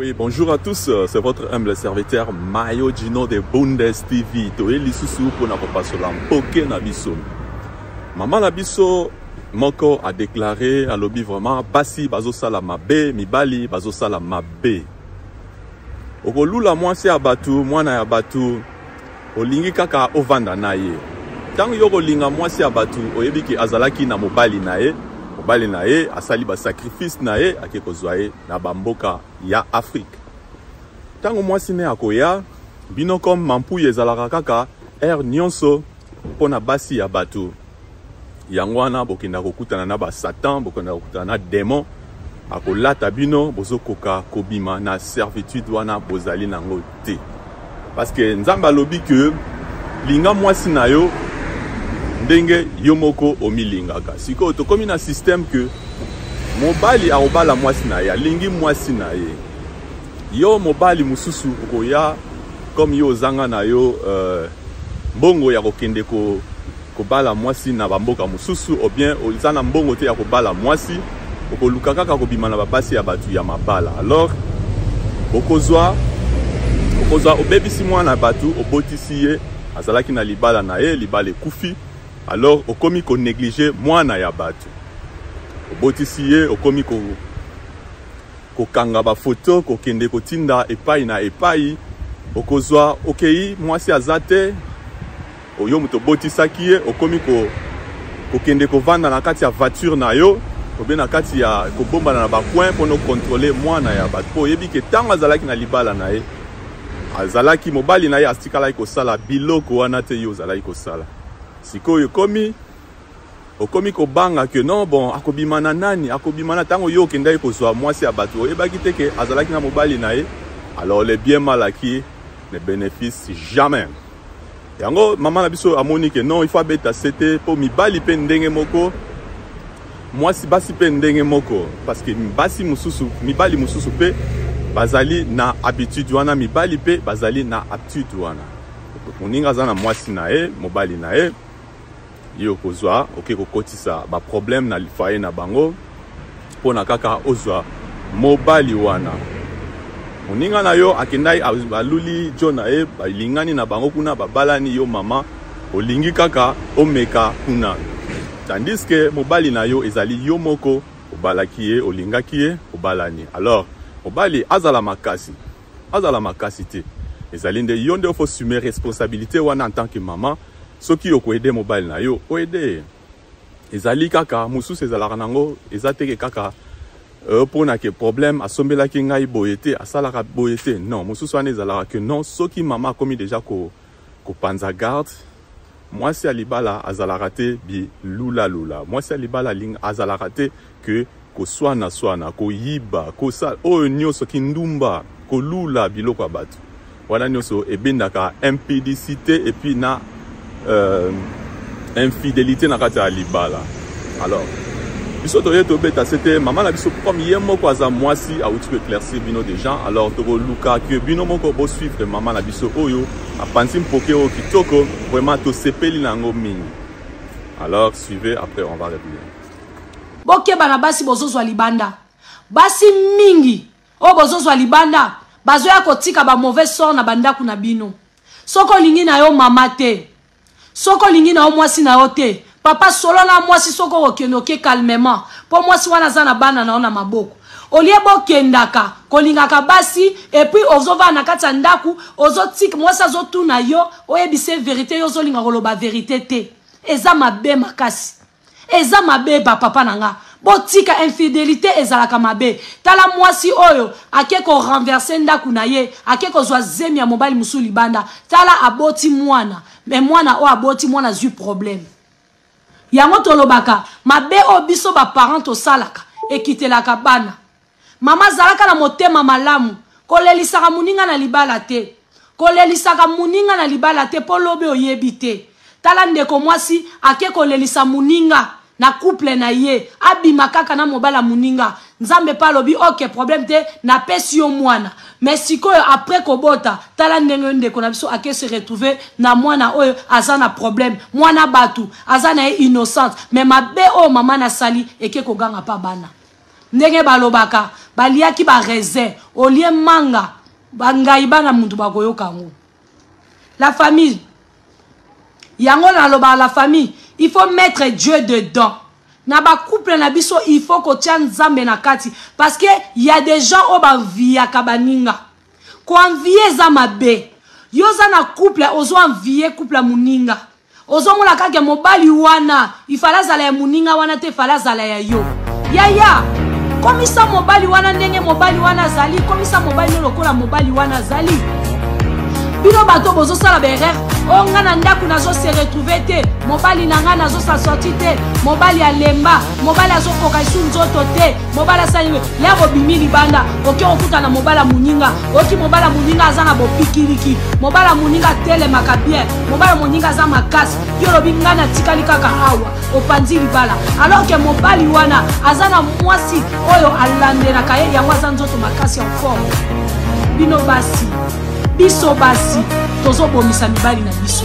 Oui, bonjour à tous, euh, c'est votre humble serviteur Mayo Gino de Bundes TV. Toye lisusu mpo na kopasola mpoke na biso. Mama na biso moko a déclaré alobi vraiment basi bazosala mabe, mibali bazosala mabe. okolula mwasi ya bato mwana ya bato olingi kaka ovanda na ye ntango yo okolinga mwasi ya bato oyebi ke azalaki na mobali na ye mobali na ye asali basakrifise na ye ake kozwa ye na bamboka ya afrike ntango mwasi ne akoya bino comme mampuya ezalaka kaka heure nyonso mpo na basi ya bato yango wana bokenda kokutana na basatan bokenda kokutana na demon akolata bino bozokoka kobima na servitude wana bozali nango te parce que nzambe alobi que linga mwasi na yo ndenge yo moko omilingaka sikoyo tokomi na système que mobali akobala mwasi na ye alingi mwasi na ye yo mobali mosusu okoya comme yo ozanga na yo euh, mbongo ya kokende ko kobala mwasi na bamboka mosusu ou bien oza na mbongo te ya kobala mwasi okoluka kaka kobima na babasi ya bato ya mabala alors okozwa okozwa obebisi mwana bato obotisi ye azalaki na libala na ye libala ekufi alors okomi koneglige mwana ya bato obotisi ye okomi ko kokanga bafoto kokende kotinda epai na epai okozwa okei mwasi aza te oyo moto obotisaki ye okomi ko, kokende kovanda na kati ya voiture na yo obe na kati ya kobombana na bacoin mpo nokontrole mwana ya bato mpo oyebi ke ntango azalaki na libala na ye azalaki mobali na ye atikalaki kosala biloko wana te yo ozalaki kosala sikoyo ekomi okomi kobanga ke non bon akobima na nani akobima na ntango yo okendaki kozwa mwasi ya bato oyebaki te ke azalaki na mobali na ye alors le bien mal acquis ne bénéfice jamais yango mama na biso amoni ke non il faut abeta sete mpo mibali mpe ndenge moko mwasi basi mpe ndenge moko parce que basi mosusu mibali mosusu mpe bazali na habitude wana mibali mpe bazali na habitude wana moninga aza na mwasi na ye mobali na ye ye okozwa oke kokotisa baproblème na lifaye na bango mpo na kaka ozwa mobali wana moninga na yo akendaki aluli jo na ye balingani na bango kuna babalani yo mama olingi kaka omeka kuna tandis ke mobali na yo ezali yo moko obalaki ye olingaki ye obalani alors mobali azala makasi azala makasi te ezali nde yo nde ofo sume responsabilité wana en tant que maman soki okoede mobali na yo oede ye ezali kaka mosusu ezalaka nango eza teke kaka mpona euh, ke problème asombelaki ngai boye te asalaka boye te non mosusu wana ezalaka ke non soki mama akomi deja kopanza ko garde Mwasi ya libala azalaka te bilula lula. Mwasi ya libala alinga azalaka te que koswana swana, koyiba, kosala oyo nyoso kindumba, kolula biloko ya bato. Wana nyoso ebendaka impudicite et puis na euh, infidelite na kati ya libala. Alors biso toye tobeta se te mama na biso comme ye moko aza mwasi awuti ko éclaircir bino déjà alors tokoluka que bino moko bosuivre mama na biso oyo Apanzi mpoke oyo kitoko, vraiment tosepeli na yango mingi. Alors suivez, après on va revenir. Bokeba na basi bozozwa libanda. Basi mingi oyo bozozwa libanda bazoya kotika ba mauvais sort na bandako na bino. Soki olingi na yo mama te, soki olingi na yo mwasi na yo te papa solo na mwasi soki okokende oke calmement mpo mwasi wana aza na bana na yo na maboko olie bokendaka kolingaka basi epuis ozovanda na kati ya ndako ozotika mwasi azotuna yo oyebisa ye verite yo ozolinga koloba verite te eza mabe makasi Eza mabe ba papa na nga. Botika infidelite ezalaka mabe. Tala mwasi oyo ake ko renverser ndaku na ye, ake kozwa zemi ya mobali mosusu libanda. Tala aboti mwana, mais mwana oyo aboti mwana azwi problème. Yango tolobaka mabe oyo biso ba parents tosalaka ekitelaka bana. Mama zalaka na motema malamu. Kolelisaka muninga na libala te. Kolelisaka muninga na libala te po lobi oyebi te. Tala ndeko mwasi ake kolelisa muninga na couple na ye abima kaka na mobali ya muninga nzambe pe alobi ok problème te na pesi yo mwana mais sikoyo après kobota tala ndenge yo ndeko na biso ake se retrouver na mwana oyo aza na problème mwana batu aza na ye innocente mais mabe oyo mama nasali eke koganga pa bana ndenge balobaka baliaki ba raisin olie manga bangai bana muntu bakoyoka yango la famille yango nalobaka la famille il faut mettre dieu dedans na bacouple na biso il faut kotya nzambe na kati parce que ya des gens oyo banviyaka baninga koanviye eza mabe yo oza na couple ozo anviye couple ya moninga Ozo mona kaka ya mobali wana il fallait azala ya muninga wana te il fallait azala ya yo yaya komisa mobali wana ndenge mobali wana azali komisa mobali no lokola mobali wana azali bino bato bozosala baerreur o oh, ngai na ndako nazose retrouve te mobali na ngai nazosa sorti te mobali alemba mobali azokoka esu nzoto te mobali asali nini ya bobimi libanda oke kokuta na mobali ya moninga oki mobali ya moninga aza na bopikiliki mobali ya moninga atelemaka bien mobali ya moninga aza makasi yo olobi ngai natikali kaka awa opanzi libala alors ke mobali wana aza na mwasi oyo alandelaka ye yango aza nzoto makasi ya forme bino basi biso basi tozobomisa mibali na biso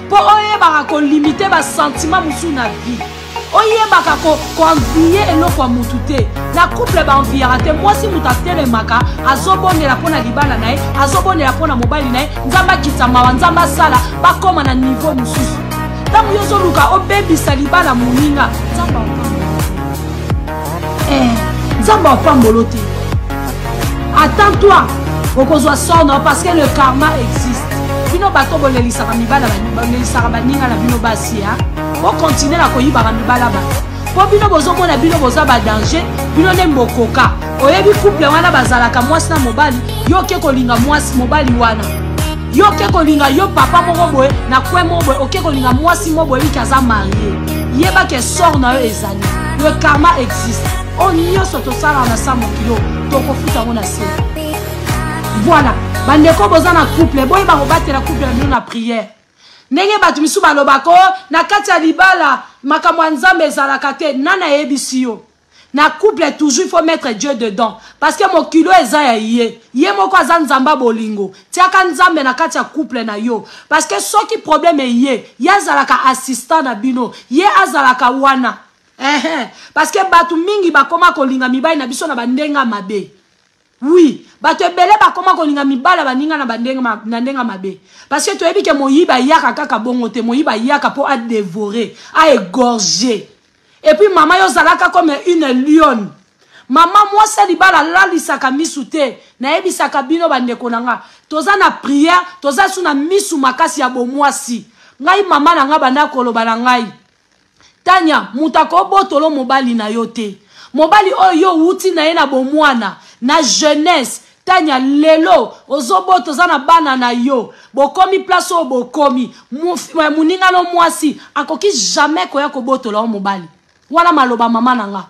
mpo oyebaka kolimite basentima mosusu na vie oyebaka koenviye ko eloko ya motu te na couple baenviyaka te mwasi moto atelemaka azobondela mpo na libala na ye azobondela mpo na mobali na ye nzambe akitisa mawa nzambe asala bakóma na nivo mosusu ntango yo ozoluka obebisa libala moninga nzambe eh, nzambe apambolo te attends toi okozwa sono parce que le karma existe bino bato bolelisaka mibala bolelisaka baninga na bino basi ya bokontinue na koyibaka mibala bato mpo bino bozomona bino boza badanger bino nde bokoka oyebi couple wana bazalaka mwasi na mobali yo oke kolinga mwasi mobali wana yo oke kolinga yo papa moko boye na kwe moko boye oke kolinga mwasi moko boye liki aza marie yeba ke sort na yo ezali le karma existe oyo nyonso tosalaka na sa mokilo tokofuta yango na se voilà bandeko boza na couple boyeba kobatela couple na bino na priere ndenge bato misusu balobaka o oh, na kati ya libala makambo ya nzambe ezalaka te nani ayebisi yo na couple toujours il faut mettre dieu dedans parce que mokilo eza ya ye ye moko aza nzambe ya bolingo tiaka nzambe na kati ya couple na yo parce que soki problème eye ye azalaka assistant na bino ye azalaka wana ehe parce que bato mingi bakoma kolinga mibali na biso na bandenge ya mabe Oui, bato ebele bakoma kolinga mibala baninga na bandenge ma, na ndenge mabe. Parce que toyebi ke moyiba yaka kaka bongo te, moyiba yaka po a dévorer, a égorger. Et puis mama yo zalaka comme une lionne. Mama mwasi ya libala alalisaka misu te. Nayebisaka bino bandeko na nga, toza na prière, toza su na misu makasi ya bomwasi. Ngai mama na nga banda koloba na ngai, tanya moto akobotolo mobali na yo te mobali oyo yo owuti na ye na bomwana na jeunesse tanya lelo ozobota oza na bana na yo bokomi place oyo bokomi eh, moninga no mwasi akoki jamais koya kobotola yo mobali wana maloba mama na nga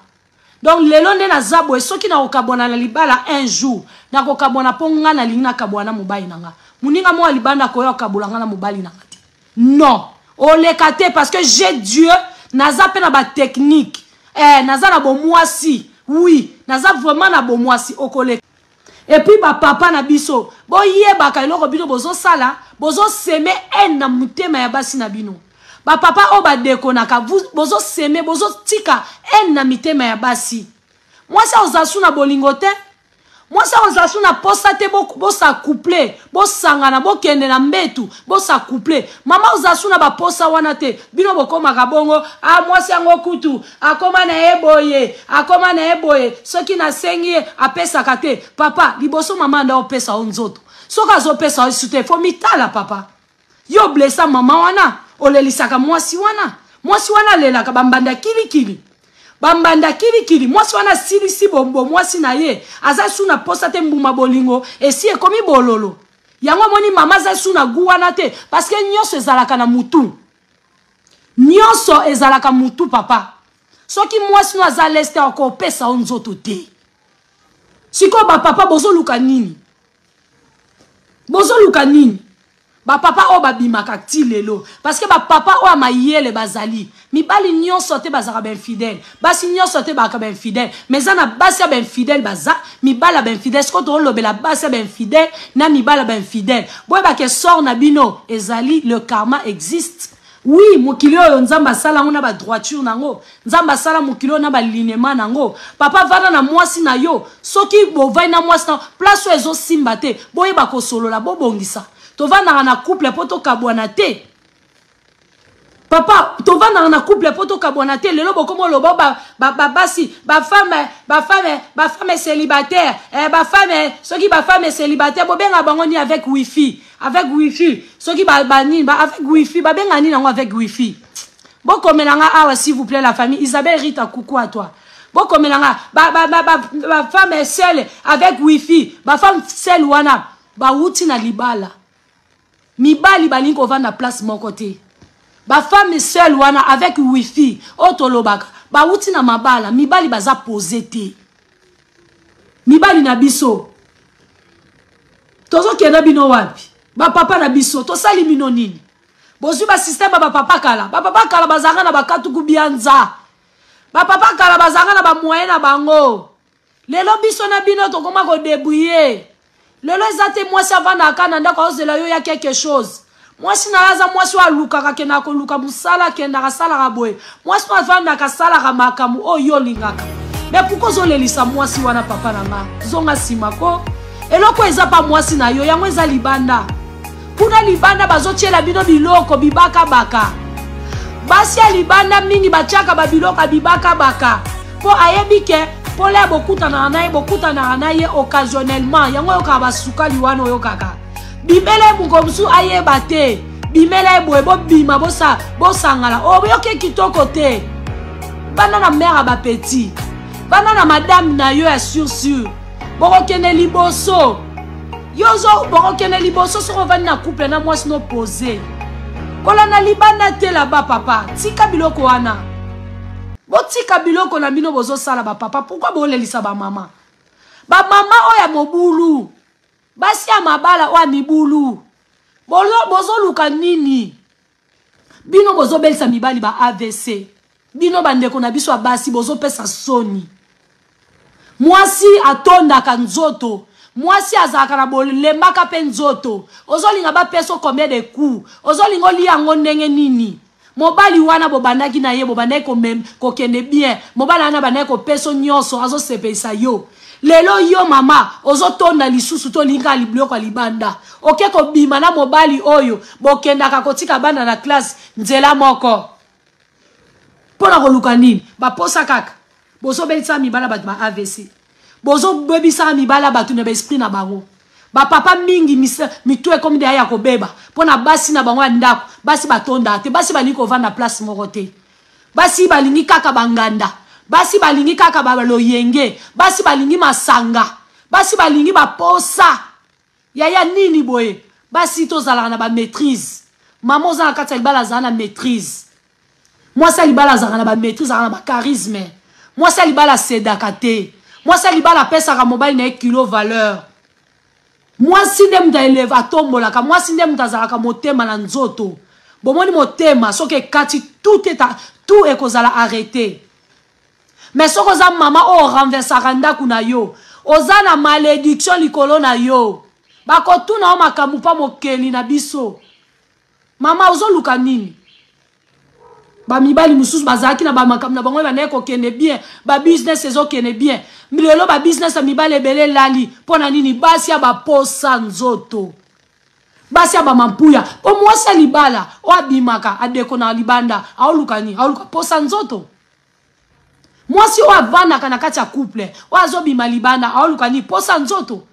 donc lelo nde naza boye soki nakokabwana na libala un jour nakokabwana mpo ngai nalingi nakabwana na mobali na ngai moninga moko ya libanda akoya kokabola ngai na mobali na ngai te non oleka te parce que je dieu naza mpe na batechnike eh, naza na bomwasi wi naza vraiment na bomwasi okoleka Et puis ba papa na biso, bo yebaka eloko bino bozo sala, bozo seme haine na mutema ya basi na bino. Ba papa o ba dekonaka, bozo seme, bozo tika haine na mitema ya basi. Mwasi oza suna bolingo te, mwasi oza suna posa te, bo, bo sa couple, bo sangana, bo kende na mbetu, bo sa couple. Mama oza suna ba posa wana te, bino bokomaka bongo, ah mwasi yango kutu, akoma na ye boye akoma na ye boye soki nasengi ye apesaka te papa liboso mama anda opesa yo nzoto soki azopesa yo su te fo mitala papa yo blesa mama wana olelisaka mwasi wana mwasi wana alelaka bambanda kilikili bambanda kilikili mwasi wana asilisi bombo mwasi na ye aza su na posa te mbuma bolingo esi ekomi bololo yango omoni mama aza su na gu wana te parceke nyonso ezalaka na mutu nionso ezalaka mutu papa soki mwasi no aza leste akopesa yo nzoto te sikoyo bapapa bozoluka nini bozoluka nini bapapa oyo babimaka ti lelo parceke bapapa oyo ya mayele bazali mibali nyonso te bazalaka bainfidele basi nyonso te baka ba infidèle mais eza na basi ya ba infidèle baza mibala ba infidèle sikoyo toolobela basi ya ba infidèle na mibala ba infidèle boyeba ke sort na bino ezali le karma existe oui mokili oyo nzambe asala yango na badroiture na yango nzambe asala mokili oyo na balinema na yango papa vanda na mwasi na yo soki bovai na mwasi na place oyo ezosimba te boyeba kosolola bobongisa tovandaka na couple mpo tokabwana te papa tovandaka na couple mpo tokabwana te lelo bokoma oloba babasi bafame bafame bafame célibataire eh, bafame soki bafame célibataire bobenga bango ni avec wifi avec wifi soki banini ba, ba, avec wifi babenga nini yango avec wifi bokomela nga awa s'il vous plaît la famille isabelle rita coucou à toi bokomela nga bafame seule avec wifi bafame seule wana bawuti na libala mibali balingi kovanda place moko te bafemme seul wana avec wifi oyo tolobaka bawuti na mabala mibali baza pose te mibali na biso tozokenda bino wapi bapapa na biso tosali bino nini bozwi basysteme ya bapapa kala bapapa kala bazalaka na bakatuku bianza bapapa kala bazalaka na bamoye na bango lelo biso na bino tokoma kodebriye lelo eza te mwasi avandaka kaka na ndako aozela yo ya quelque chose mwasi na yo aza mwasi oyo alukaka akendaka koluka mosala akendaka asalaka boye mwasi oyo avandaka asalaka makambo oyo yo olingaka me pourkui ozolelisa mwasi wana papa na nga zonga nsima ko eloko eza pa mwasi na yo yango eza libanda kuna libanda bazotyela bino biloko bibakabaka basi ya libanda mingi batyaka babiloko ya bibakabaka mpo ayebi ke mpola ya bokutanaka na ye bokutanaka na ye occasionnellement yango oyokaka basukali wana oyokaka bimela ye moko mosusu ayeba te bimela ye boye bobima bosa, bosangala oyoki kitoko te banda na mare ya bapetit banda na madame na yo ya sur sur bokokende liboso yo ozo bokokende liboso soki ovandi na couple na mwasi no pose kolanda libanda te laba papa tika biloko wana botika biloko na bino bozosala bapapa pourkui bolelisa bamama bamama oyo ya mobulu basi ya mabala oyo ya mibulu bozoluka nini bino bozobelisa mibali ba avc bino bandeko na biso ya basi bozopesa soni mwasi atondaka nzoto mwasi azalaka na bolembaka mpe nzoto ozolinga bapesa combien de coup ozolinga olia yango ndenge nini mobali wana bobandaki na ye bobandaki kokende bien mobali wana abandaki kopeso nyonso azosepelisa yo lelo yo mama ozotonda lisusu tolinga biloko ya libanda oke kobima na mobali oyo bokendaka kotika bana na classe nzela moko mpo na koluka nini baposa kaka bozobelisa mibala bato ba avc bozobebisa mibala bato na baesprit na bango bapapa mingi mitu ekomi deya ya kobeba mpo na basi na bango ya ndako basi batondaka te basi balingi kovanda place moko te Basi balingi kaka ba nganda. Basi balingi kaka ba loyenge. Basi balingi masanga. Basi balingi ba posa. Yaya nini boye? Basi to zalaka na ba maitrise. Maman oza na kati ya libala zala na maitrise. Mwasi ya libala azalaka na ba maitrise, azalaka na ba charisme. Mwasi ya libala sedaka te. Mwasi ya libala apesaka mobali na ye kilo valeur. mwasi nde moto aeleve atombolaka mwasi nde moto azalaka motema na nzoto bomoni motema soki ekati tout eta tout ekozala arrete mais soki oza mama oyo oh, renversaka ndako na yo oza na malédiction likolo na yo bakotuna yo makambo mpa mokeli na biso Mama ozo luka nini? Ba mibali mususu bazalaki na ba makambo na bango ebandaki kokende bien, ba business ezo kende bien. Lelo ba business ya mibali ebele elali mpo na nini? Basi ya baposa nzoto. Basi ya bamampuya mpo mwasi ya libala oyo abimaka adeko na libanda aoluka nini? Aoluka posa nzoto. Mwasi oyo avandaka na kati ya couple oyo azobima libanda aoluka nini? Posa nzoto.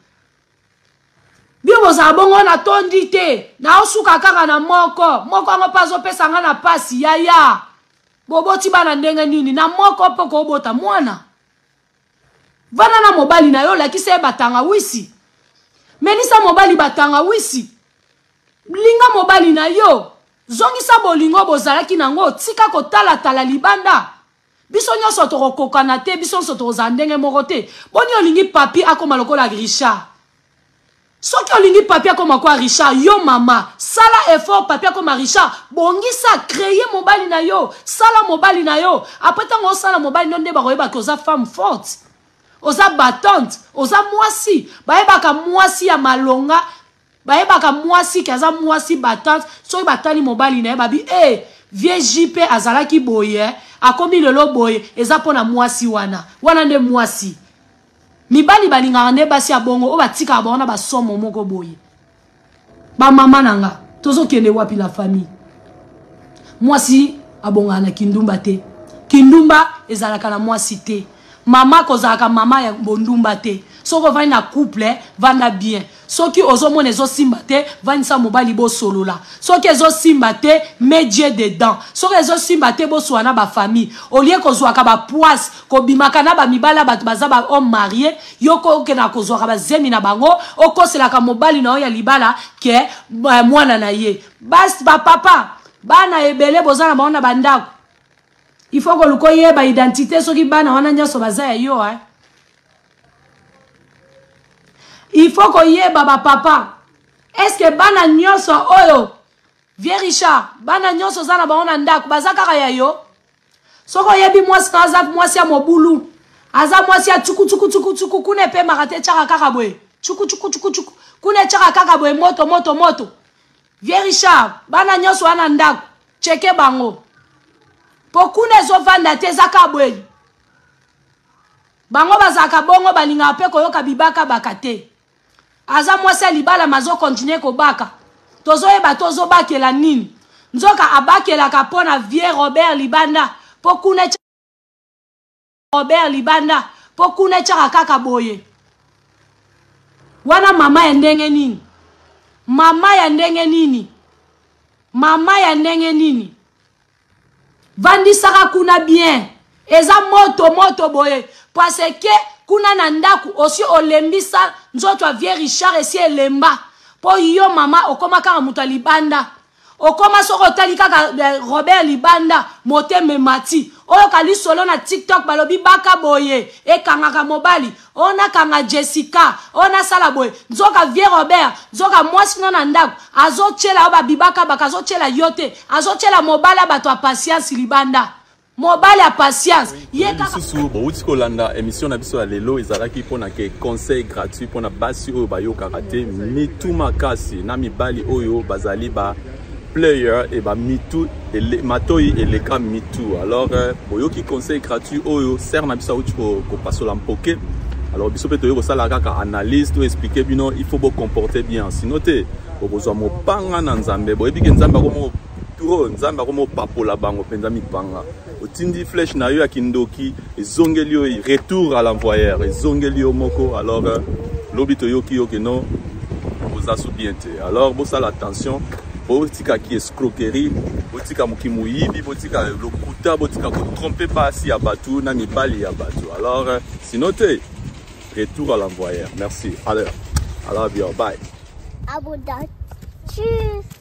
bino bozala bongo natondi te naosuka kaka na moko moko yango mpe azopesa ngai na mpasi yaya boboti bana ndenge nini na moko mpe okobota mwana vanda na mobali na yo olakisa ye batangawisi melisa mobali batangawisi linga mobali na yo zongisa bolingo bozalaki na yango tika kotalatala libanda Biso nionso toko kokana te biso nionso toko za ndenge moko te boni olingi papi akoma lokola Richard soki olingi papi akoma kwa Richard yo mama sala effort papi akoma Richard bongisa creye mobali na yo sala mobali na yo après tango osala mobali no nde bakoyeba ke oza femme forte oza battante oza mwasi bayebaka mwasi ya malonga bayebaka mwasi ke aza mwasi batante soki batali mobali na ye babi e hey, vie jp azalaki boye eh, akomi lelo boye eza mpo na mwasi wana wana nde mwasi mibali balingaka nde basi ya bongo oyo batikaka bango na basomo moko boye bamama na nga tozokende wapi la famille mwasi abongaka na kindumba te kindumba ezalaka na mwasi te mama kozalaka mama ya bondumba te soki ovandi na couple vanda bien soki ozomona ezosimba te vandisa mobali bosolola soki ezosimba te medie dedans soki ezosimba te boswa na bafamille olie kozwaka bapoise kobimaka na bamibali ya bato baza bahomme marie yoko okendaka kozwaka bazemi na bango okoselaka mobali na yo ya libala ke eh, mwana na ye bas bapapa bana ebele boza na bango na bandako il faut koluka oyeba identité soki bana wana nyonso baza ya yo eh? il faut koyeba bapapa est ce que bana nyonso oyo vieux richard bana nyonso oza na bango na ndako baza kaka ya yo soki oyebi mwasi na aza mwasi ya mobulu aza mwasi ya cukucukucukucuku kuna epemaka te etyaka kaka boye cukucukucukucuku kuna etyaka kaka boye moto moto moto Vieux Richard, bana nyoso wana ndako, cheke bango. Po kuna ezovanda te eza ka boye. Bango bazalaka bongo balingaka pe koyoka bibaka baka te. Aza mwasi ya libala mazo continuer kobaka. Tozoyeba tozobakela nini. Nzoka abakelaka pona vieux Robert Libanda po kuna robert libanda mpo kuna etyaka kaka boye wana mama ya ndenge nini mama ya ndenge nini mama ya ndenge nini vandisaka kuna bien eza moto moto boye parce ke kuna na ndako osi olembisa nzoto ya vieux richard esi elemba mpo yo mama okoma kaka moto ya libanda okoma soki otali kaka eh, robert libanda motema emati oyoka lisolo na tiktok balobi baka boye ekangaka mobali oyo nakanga jessica oyo nasala boye nzoka vieux robert nzoka mwasi no na ndako azotyela yo babibaka baka azotyela yo te azotyela mobali ya bato ya pasiansi libanda mobali ya patience ye lisusu bowuti kolanda émission na biso ya lelo ezalaki mpo na ke conseil gratuit mpo na basi oyo bayokaka te mitu makasi na mibali oyo bazali ba player e ba mitu ele, matoi eleka mitu alors euh, boyoki conseil gratuit oyo ser na biso awuti kopasola mpoke alors biso mpe toyei kosala kaka analyse to expliquer bino il faut bocomporte bien sino te okozwa mopanga na nzambe boyebi ke nzambe akomoko trop nzambe akoma opapola bango mpenza mipanga otindi flèche na yo ya kindoki ezongeli yo retour à l'envoyeur ezongeli yo moko alors euh, lobi toyoki yo keno oza so bien te alors bosala attention botika ki escroquerie botika moki moyibi botika lokuta botika kotrompe basi ya bato na mibali ya bato alors euh, sinon te retour à l'envoyeur merci alors alors bien bye Abonne. Tschüss.